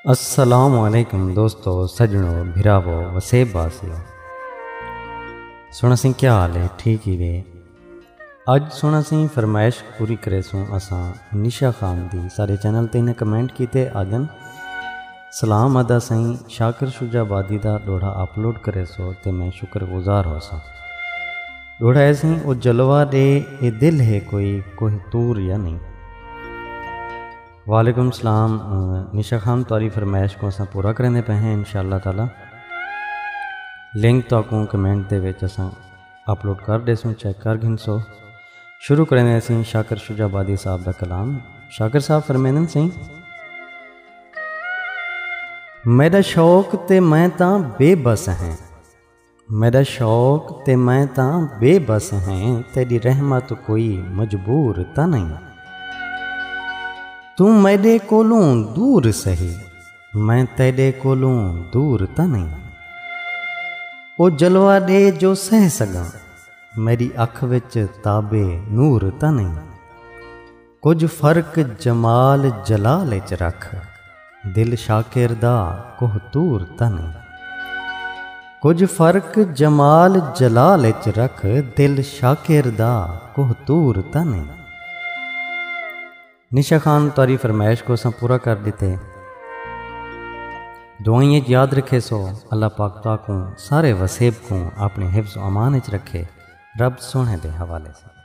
السلام علیکم دوستو سجنو بھراو وسیب باسیو سونا سنگھ کیا حال ہے ٹھیک ہی وے اج سونا سنگھ فرمائش پوری کرے سوں اساں نشا خان دی سارے چینل تے انہیں کمنٹ کیتے آجن سلام ادا سئیں شاکر شجاع آبادی دا ڈوہڑا اپلوڈ کریسو تے میں شکر گزار ہوساں ڈوہڑا اے سئیں او جلوہ ڈے اے دل ہے کوئی کوہ طور یا نہیں وعلیکم السلام نشا خان تاری فرمائش کو اساں پورا کریں دے پہ ہیں انشاءاللہ تعالی لنک تو کو کمنٹ دے وچ اساں اپلوڈ کر دے سوں چیک کر گھن سو شروع کریں دے اسیں شاکر شجا بادی صاحب دا کلام شاکر صاحب فرمینن سیں میڈا شوق تے میں تاں بے بس ہیں میڈا شوق تے میں تاں بے بس ہیں تیری رحمت کوئی مجبور تا نہیں تو میڈے کولوں دور سہی میں تیڈے کولوں دور تا نہیں او جلوہ دے جو سہ سگا میری اکھ وچ تابے نور تا نہیں کجھ فرق جمال جلال اچ رکھ دل شاکر دا کوہ طور تن کجھ فرق جمال جلال اچ رکھ دل شاکر دا کوہ طور تن نشا خان تاری فرمائش کو سن پورا کر دیتے دعائیں یاد رکھے سو اللہ پاک تاکوں سارے وسیب کوں اپنے حفظ و امان اچ رکھے رب سوہݨے دے حوالے ساں۔